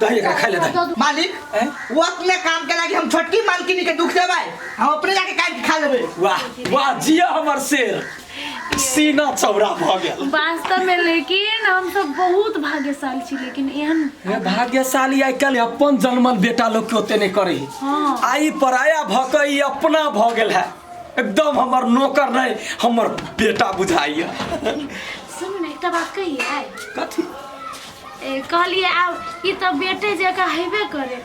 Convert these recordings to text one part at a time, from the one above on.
दही एकरा खाए ले दही मालिक हैं? वो अपने काम के लागी हम छोटकी मालकिनी के दुख देबै हम अपने जाके काट के खा लेबै वाह वाह जिया हमर शेर सीना चौड़ा भऽ गेल वास्तव में लेकिन हम सब बहुत भाग्यशाली छी लेकिन एहन हे भाग्यशाली आइ काल्हि अपन जन्मल बेटा लोग के ओते नहि करे है हाँ। आई पराया भऽ कऽ ई अपना भऽ गेल है एकदम हमर नौकर नहि हमर बेटा बुझाइए सुन ने एकटा बात कहिए कथी ए, कहलिए आब ई तऽ बेटे जकाँ हेबे करे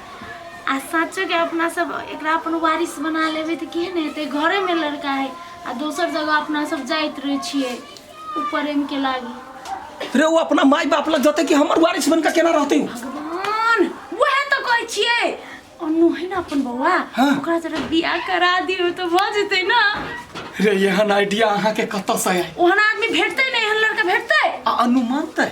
आ साँचो के अपना सब एकरा अपन वारिस बना लेबै तऽ केहन हेतै घरे में लड़का है आ दोसर जगह अपना सब जाइत रहे छियै उ प्रेम के लागी रे ओ अपना माय बाप लग जते कि हमर वारिस बनकर केना रहते उ? भगवान वह तो कहै छियै अन्नू है ना अपन बौआ हाँ। ओकरा जरा बियाह करा दियो तो भऽ जेतै ना रे एहन आइडिया अहाँ के कतऽ से आयल ओहन आदमी भेटतै ना एहन लड़का भेटतै आ अनुमान तय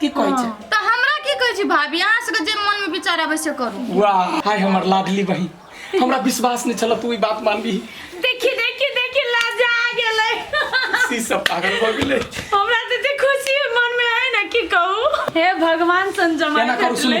की कहै छै तऽ हमरा की कहै छी भाभी अहाँ सबके जे मन में विचार आबै से करू वाह हाय हमर लाडली बहिन हमरा विश्वास नहि छल तू ई बात मानबी देखी देखी देखी लाजा आ गेलै सी सब पागल भऽ गेलै हमरा तऽ एते खुशी मन में है ना की कहू हे भगवान सन जमा केना करू सुनू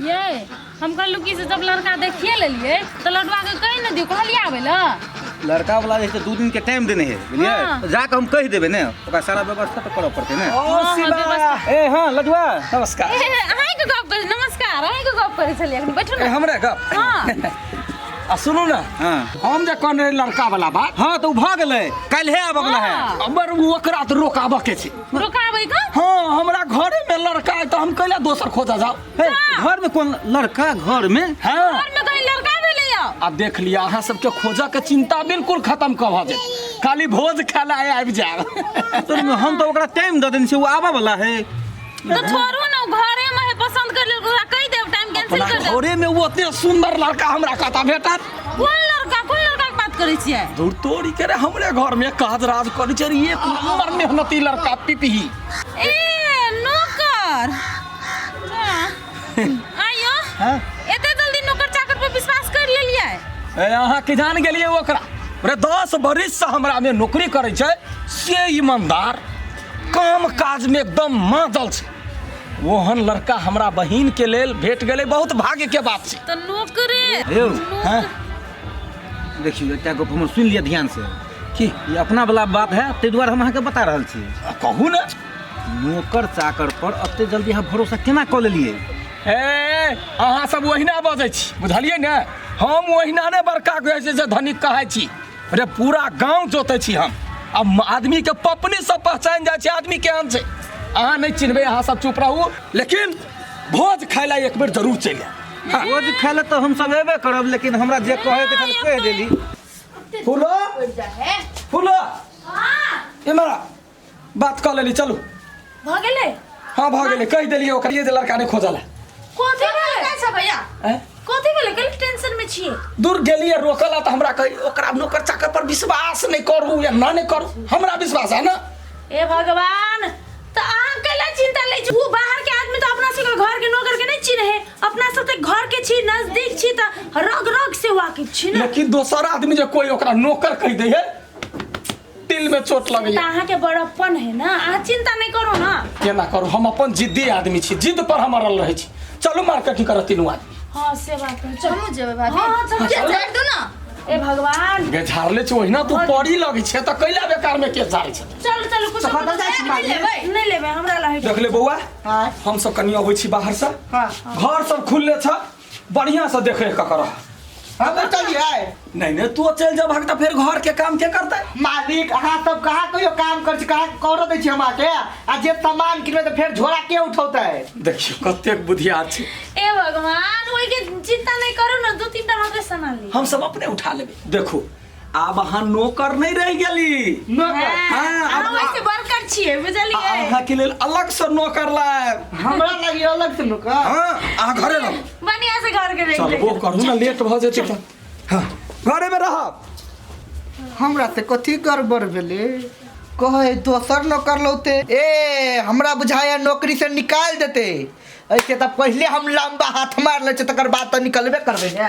यै हम कहलहुँ कि से जब लड़का देखिए लेलियै तऽ लडुआके कहि ने दियौ कहलियै आबै लए लड़का वाला जे छै दू दिन के टाइम देने है बुझलियै हाँ। जाके हम कह देबे ने ओकरा सारा व्यवस्था तो करऽ पड़ते ने ए हाँ लडुआ नमस्कार अहाँके गप करै नमस्कार अहाँके गप करै छलियै अखन बैठू ने हमरा गप हाँ आ सुनू ने हाँ। हम जे कहने लड़का वाला बात हाँ तो भऽ गेलै काल्हे आबऽ वाला है हमर ओकरा तऽ रोकाबऽ के छै रोकाबै का हाँ हमरा घरे में लड़का है तो हम कैला दोसर खोजा जाओ हे, घर में कौन लड़का घर में हाँ घर में कहीं लड़का भेलै या आ देख लिया अहाँ सबके खोजा के चिंता बिल्कुल खत्म कब हो जाए खाली भोज खाला है आबि जाए तो हम तो ओकरा टाइम दे देने से वो आवा वाला है तो छोड़ू ना उ घरे में है पसंद कर ले ओकरा कह देब टाइम कैंसिल अपना कर देब घरे में वो इतने सुंदर लड़का हमरा कहता बेटा कोन लड़का कोन लड़का के बात करे छियै दूर तोरी करे हमरे घर में काज राज करी चर ये नंबर मेहनती लड़का पिपही ए नौकर आयो हैं? एते जल्दी नौकर चाकर पर विश्वास कर लेलिए ए, अहाँ के जान गेलिए ओकरा रे दस बरिस से हमरा में नौकरी करे छै से ईमानदार काम काज में एकदम मादल छै ओहन लड़का हमरा बहिन के लेल भेट गेलै बहुत भाग्य के बात छै तऽ नौकरे यौ हैं देखियौ एकटा गप हमर सुनि लिअ ध्यान से की ई अपना वाला बात है ताहि दुआरे हम अहाँके बता रहल छी आ, कहू ने नौकर चाकर पर एते जल्दी अहाँ भरोसा केना कऽ लेलियै ए अहाँ सब ओहिना बजै छी बुझलियै ने हम ओहिना ने बड़का कहै छै जे धनिक कहै छी अरे पूरा गांव जोते छी हम अब आदमी के पपनी सब पहचान जाए छे आदमी केहन छे अहाँ नहीं चिन्हबे अहाँ सब चुप रहू लेकिन भोज खाय ला एक बेर जरूर चलि आयब। हाँ। रोज खाय ले तो हम सब एबे करब लेकिन हमरा जे कहे के छल कह देली फूलो फूलो इमरा बात कर लेली चलू भ गेलै हाँ भऽ गेलै कहि देलियै ओकरिए जे लड़का नहि खोजल है कथी भेलै ना छ भैया हैं? कथी भेलै कल टेंशन में छिए दूर गेलियै रोकल तऽ हमरा कही ओकरा नौकर चाकर पर विश्वास नहि करू या ना नहि करू हमरा विश्वास है ना ए भगवान त अहाँ कैला चिंता लै छी ऊ बाहर के आदमी त अपना सबके घर के नौकर के नै छी रहे अपना सब त घर के छी नजदीक छी त रग रग से वाकिफ छी ना लेकिन दोसर आदमी जे कोई ओकरा नौकर कहि दै है दिल में चोट लगे चिंता अहाँ के बड़प्पन है ना अहाँ चिंता नहीं करो ना केना करू हम अपन जिद्दी आदमी छी जिद पर हम अड़ल रहे छी चलू मार्केटिंग करऽ तीनू आदमी हाँ से बात है चलो हमहूँ जेबै भाभी हाँ, हाँ, चल, चल। जाए दू ना ए भगवान गे झाड़ले छी ओहिना तू पड़ी लगे छे त कैला बेकार में के झाड़े छे चलो चलो कुछ सफा दल जाइ छी मालिक। लेबै नहीं लेबे हमरा ला है देख ले बौआ हाँ। हम सब कनी अबै छी बाहर से हाँ। घर सब खुलले छ बढ़िया से देख रेख कर हम तो चलिए नहीं नहीं तू चल जा भाग तो फिर घर के काम के करते मालिक अहाँ सब कहाँ कहियो काम कर छी कहाँ करो दै छी हमरा के आ जे सामान किनबे तऽ फेर झोरा के उठौतै देखियो कतेक बुधियार छै ए भगवान ओहि के चिंता नहीं करू ना दू तीन टा हमरा के सामान ली हम सब अपने उठा लेबे देखो आब अहाँ नौकर नहीं रह गेली नौकर हाँ, हम अब- ऐसे वर्कर छिए आ- बुझलिए अहाँ के लेल अलग से नौकर लायब हमरा लगी अलग से नौकर हाँ अहाँ घरे रहो बढ़िया से घर के चल वो रख करू ना लेट भ जेतै त हाँ घरे में रहब हमरा से कथी गड़बड़ भेलै कहे दोसर नौकर लौते ए हमरा बुझाया नौकरी से निकाल देते ऐसे तऽ पहिले हम लंबा हाथ मार लै छै तकर बाद तऽ निकलबे करबै ने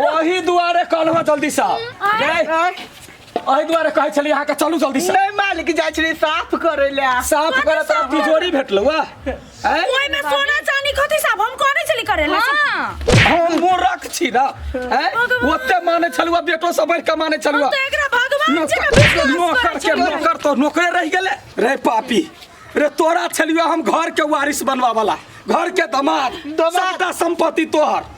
ओही दुआरे कहलहुँ जल्दी सा ओही दुआरे कहै छली अहाँ के चलू जल्दी सा नहीं मालिक जाय छी साफ करे ले साफ करे तोरा तिजोरी भेटलौ आ हैं? ओए में सोना चांदी कथि सब हम करे चली करे ले हां हम मूर्ख छी ना हैं? ओते माने छलुआ बेटो सब बढ़ के माने छलुआ तो एकरा भगवान जी के नौकर विश्वास नौकर करे के छलू। नौकर तो नौकरे रह गेले रे पापी रे तोरा छलियो हम घर के वारिस बनवा वाला घर के दामाद दामाद। सबटा संपत्ति तोहर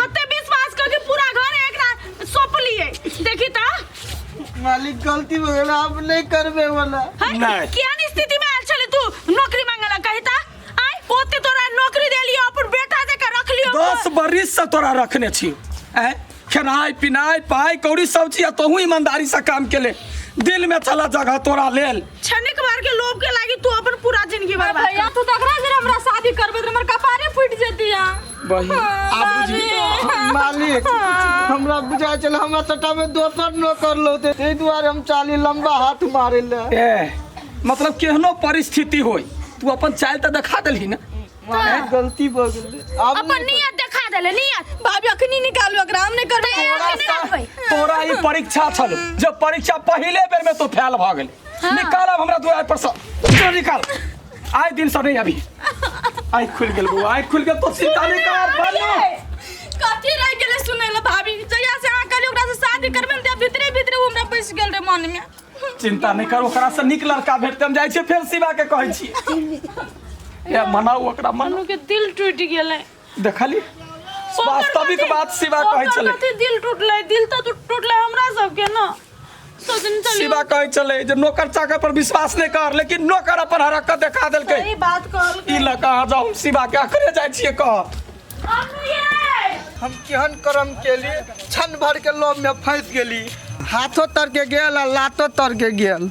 ओते विश्वास करके पूरा घर एकरा सौंपलिए देखी त मालिक गलती हो गेल आप नहीं करबे वाला है? नहीं। केहन स्थिति में आयल छले तू नौकरी मांगला कही त आय ओते तोरा नौकरी देलियो अपन बेटा जका रखलियो दस बरिस से तोरा रखने छी ऐ खेनाइ पिनाइ पाइ कौड़ी सब चीज तोहू ईमानदारी से काम के ले दिल में चला जगह तोरा लेल छनिक बार के लोभ के लागी तू अपन पूरा जिंदगी बर्बाद भैया तू तकरा जरा हमरा शादी करबे त हमर कपारे फूट जेतिया बहिन आप बुझी मालिक हमरा बुझाय छल हमरा सट्टा में दोसर नौकर लौते ताहि दुआरे हम चाली लंबा हाथ मारे ले ए, मतलब केहनो परिस्थिति होई तू अपन चाल तऽ देखा देलही ना मालिक गलती भ गेल अब अपन नियत देखा देले नियत भाभी अखनी निकालू एकरा हम नहीं करबै तोरा अखनी सा- निकालबै तोरा ई परीक्षा छल जब परीक्षा पहिले बेर में तो फैल भऽ गेल निकालब हमरा दुआर पर से जो निकाल आइ दिन से नहीं अभी आइ खुल गेल बौआ आइ खुल गेल तो चिंता नहीं कर बानू कथी रह गेले सुनै ले भाभी जहिया से अहाँ कहली ओकरा से शादी करबे ने भीतरे भीतरे हमरा बैस गेल रे मन में चिंता नहीं कर ओकरा से नीक लड़का भेटते हम जाइ छियै फेर शिवा के कहै छियै ए मनाउ ओकरा मनाउ के दिल टूट गेले देखली वास्तविक कथी- बात शिवा कहै ओकर छलै कथी दिल टूटले दिल तो टूट- टूटले हमरा सबके ना सोचनी चली शिवा कहै छलै जे नौकर चाकर पर विश्वास नहि कर लेकिन नौकर अपन हरकत देखा देलकै सही बात कहल ई लऽ कऽ अहाँ जाउ हम शिवा के अखरे जाइ छियै कह हम केहन कर्म केली क्षण भर के लोभ में फंस गेली हाथो तर के गेल आ लातो तर के गेल